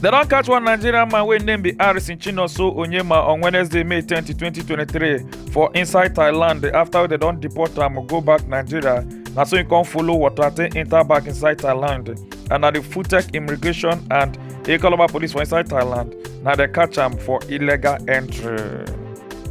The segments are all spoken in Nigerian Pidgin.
dem don catch one nigerian man wey name be harrison chinonso onyema on wednesday may 20 2023 for inside thailand afta dem don deport am go back nigeria na so im come follow water take enta back inside thailand and na di futek immigration and ekoloma police for inside thailand na dem catch am for illegal entry.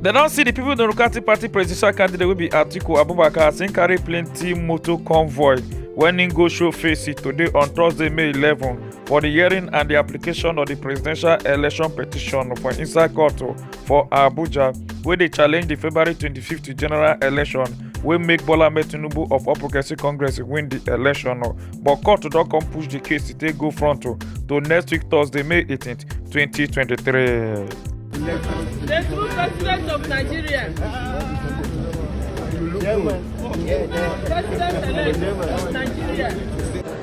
dem don see di people democratic party presidential candidate wey be atiku abubakar as im carry plenty motor convoy wen im go show face today on thursday may 11 for di hearing and di application of di presidential election petition for inside court for abuja wey dey challenge di february 25 general election wey make bola ahmed tinubu of all progressives congress win di election but court don come push di case to take go front to next week thursday may 18 2023. The true president of Nigeria. President-elect of Nigeria.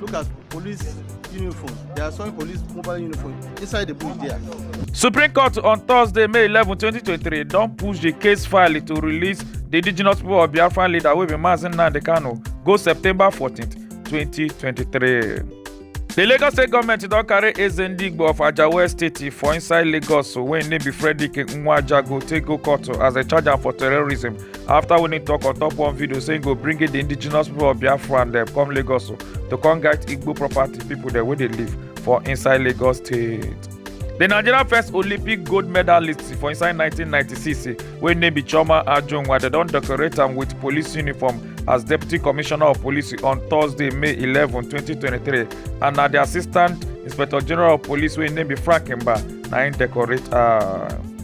Look at police uniform. They are showing police mobile uniform inside the bush there. Supreme Court on Thursday, May 11, 2023, don push the case file to release the indigenous people of Biafran leader wey be Mazi Nnamdi Kanu go September 14, 2023. The Lagos state government don carry Eze Ndigbo of Ajawa State for inside Lagos wey im name be Frederick Nwajago take go court as dem charge am for terrorism after winning talk on top one video saying go bring in the indigenous people of biafra and dem come lagos to come guide igbo property people dem wey dey live for inside lagos state. The Nigeria first Olympic gold medalist for inside 1996 wey name be Chioma Ajunwa dem don decorate am with police uniform as deputy commissioner of police on Thursday, May 11, 2023 and na the assistant inspector general of police wey name be Frank Mba na im decorate am.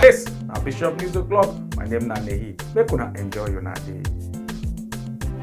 This na Bishop News O'Clock. My name na Nehi. Make una enjoy una day.